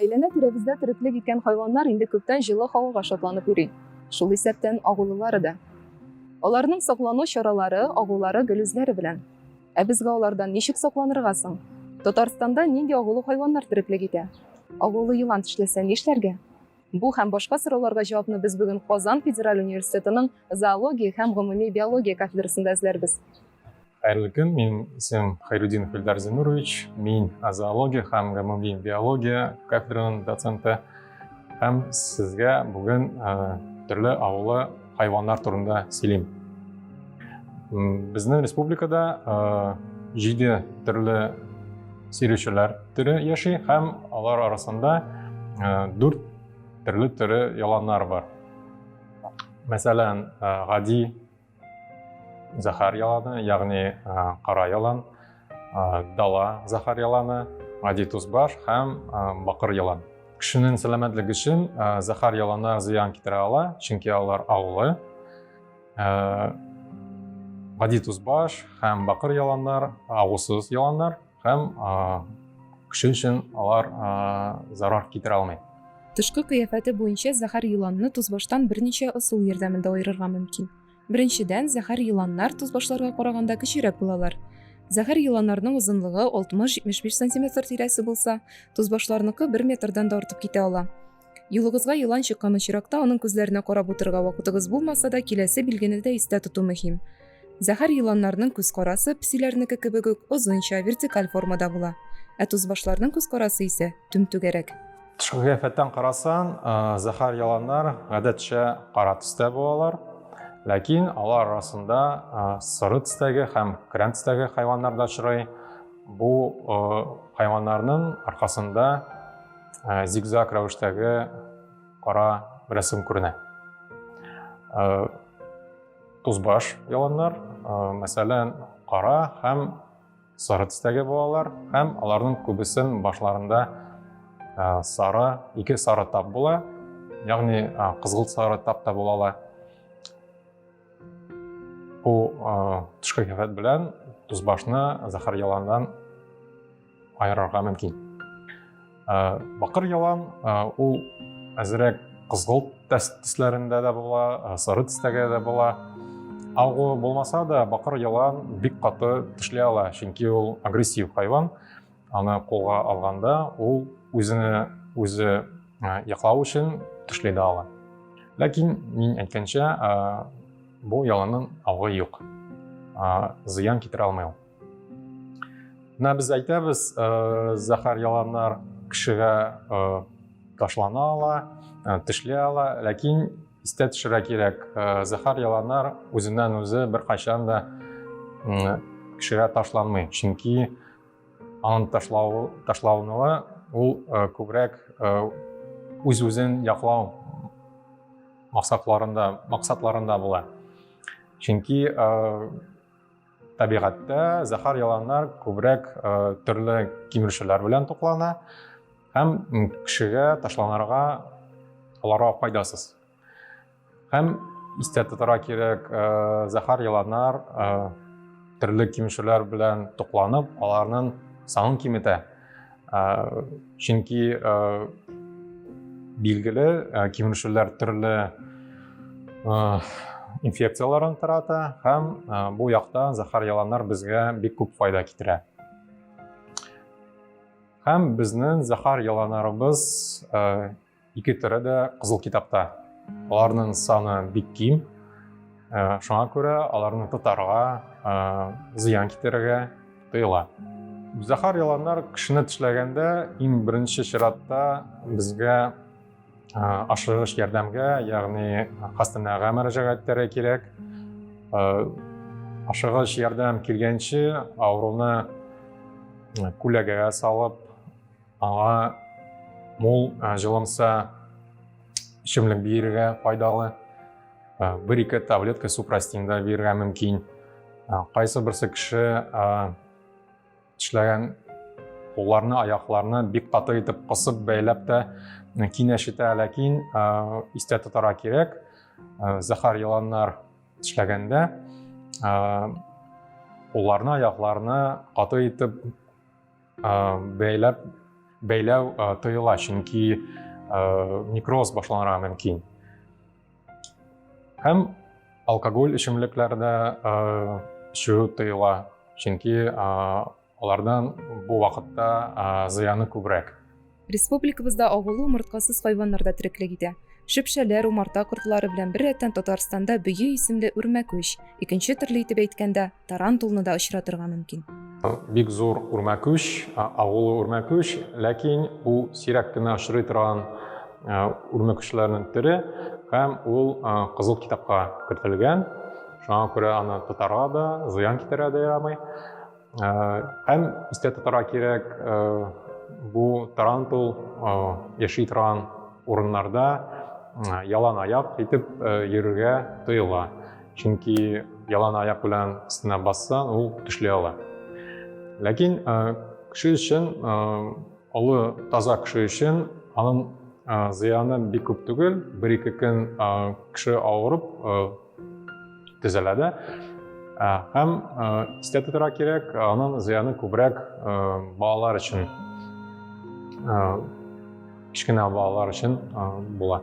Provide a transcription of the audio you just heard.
Әйләнә-тирәбездә тереклек иткән хайваннар инде күптән җылы һавага шатланып йөри, шул исәптән агулылары да. Аларның саклану чаралары, агулары гел үзләре белән. Ә безгә алардан ничек сакланырга соң? Татарстанда нинди агулы хайваннар тереклек итә? Агулы елан тешләсә нишләргә? Бу һәм башка сорауларга җавапны без бүген Казан федераль университетының зоология һәм гомуми биология кафедрасында эзләрбез. Хәерле көн, мин исем Хайрудин Хильдар Зинурович, мин зоология һәм гомуми биология кафедраның доценты һәм сезгә бүген төрле авылы хайваннар турында сөйлим. Безнең республикада җиде төрле сөйрүчеләр төре яши һәм алар арасында дүрт төрле төре яланнар бар. Мәсәлән, гади Захар яланы, ягъни кара ялан, дала захар яланы, гади тузбаш һәм бакыр ялан. Кешенең сәламәтлеге өчен захар ялана зыян китерә ала, чөнки алар агулы. Гади тузбаш һәм бакыр яланнар агусыз яланнар. Һәм кеше өчен алар зарар китерә алмый. Тышкы кыяфәте буенча зәһәр еланны тозбаштан берничә ысул ярдәмендә аерырга мөмкин. Беренчедән, зәһәр еланнар тозбашларга караганда кечерәк булалар. Зәһәр еланнарның озынлыгы 60-75 сантиметр тирәсе булса, тозбашларныкы бер метрдан да артып китә ала. Юлыгызга елан чыккан очракта аның күзләренә карап утырырга вакытыгыз булмаса да, киләсе билгене дә истә тоту мөһим. Зәһәр еланнарның күз карасы, песиләрнеке кебек үк, озынча, вертикаль формада була. Ә тузбашларның күз карасы исә, түмтүгәрәк. Тышкы кыяфәттән карасаң, зәһәр яланнар гадәтчә кара төстә булалар. Ләкин алар арасында соры төстәге һәм крән төстәге хайваннар да очрый. Бу хайваннарның аркасында ә, зигзаг рәвештәге кара рәсем күренә ә, тузбаш яланнар ә, мәсәлән кара һәм сары төстәге булалар һәм аларның күбесен башларында ә, сары ике сары тап була ягъни ә, кызгылт сары тап та була ала бу ә, төшке кәфәт белән тузбашны зәһәр яланнан аерырга мөмкин. Бакыр ялан ул әзерәк кызгылт төсләрендә дә була, сары төстәге дә була. Агу булмаса да, бакыр ялан бик каты тешле ала, чөнки ул агрессив хайван. Аны кулга алганда, ул үзенә үзе яклау өчен тешле дә ала. Ләкин мин әйткәнчә, бу яланның агы юк. Зыян китерә алмый ул. Менә без әйтәбез, зәһәр яланнар кешегә ташлана ала, тешли ала, ләкин истә төшерә кирәк, зәһәр яланнар үзеннән үзе беркайчан да кешегә ташланмый, чөнки аның ташлау ташлауныла ул күбрәк үз-үзен яклау максатларында максатларында була. Чөнки табигатьтә зәһәр яланнар күбрәк э, төрле кимерүчеләр белән туклана һәм кешегә ташланырга аларга файдасыз һәм истә тотарга кирәк э, зәһәр яланнар э, төрле кимерүчеләр белән тукланып аларның санын киметә чөнки билгеле кимешүләр төрле инфекцияләрен тарата һәм бу якта зәһәр яланнар безгә бик күп файда китерә һәм безнең зәһәр яланарыбыз Ике төрі дә Қызыл китапта. Аларның саны бик ким. Ә, шуңа күрә аларны тотарга, ә, зыян китерергә тыела. Зәхар яланнар кешене тешләгәндә иң беренче чиратта безгә ашыгыш ярдәмгә, ягъни хастаханәгә мөрәҗәгать итәргә кирәк. Ашыгыш ярдәм килгәнче авыруны күләгәгә салып, Аңа мул җылымса эчемлек бирергә пайдалы. Бер-ике таблетка супрастин да бирергә мөмкин. Кайсы берсе кеше эшләгән кулларны, аякларны бик каты итеп кысып бәйләп тә кинәшетә, ләкин истә тотарга кирәк, зәһәр еланнар эшләгәндә кулларны, аякларны каты итеп бәйләп бәйләү тыела, чөнки некроз башланырга мөмкин. Һәм алкоголь эчемлекләрдә эчү тыела, чөнки алардан бу вакытта зыяны күбрәк. Республикабызда агулы умырткасыз хайваннар да тереклек итә. Шөпшәләр, умарта кортлары белән беррәттән Татарстанда бөе исемле үрмәкүч, икенче төрле итеп әйткәндә, тарантулны да очратырга мөмкин. Бик зур үрмәкүч, агулы үрмәкүч, ләкин бу сирәк кенә очрый торган үрмәкүчләрнең төре һәм ул кызыл китапка кертелгән. Шуңа күрә аны тотарга да, зыян китерә дә ярамый. Һәм истә тотарга кирәк, бу тарантул яши торган урыннарда ялан аяк итеп йөрергә тыела. Чөнки ялан аяк белән өстенә бассаң, ул төшли ала. Ләкин кеше өчен, олы таза кеше өчен аның зыяны бик күп түгел. Бер-ике көн кеше авырып, төзәлә дә. Ә, һәм ә, истә тотырга кирәк, аның зыяны күбрәк ә, балалар өчен, ә, кечкенә балалар өчен ә, була.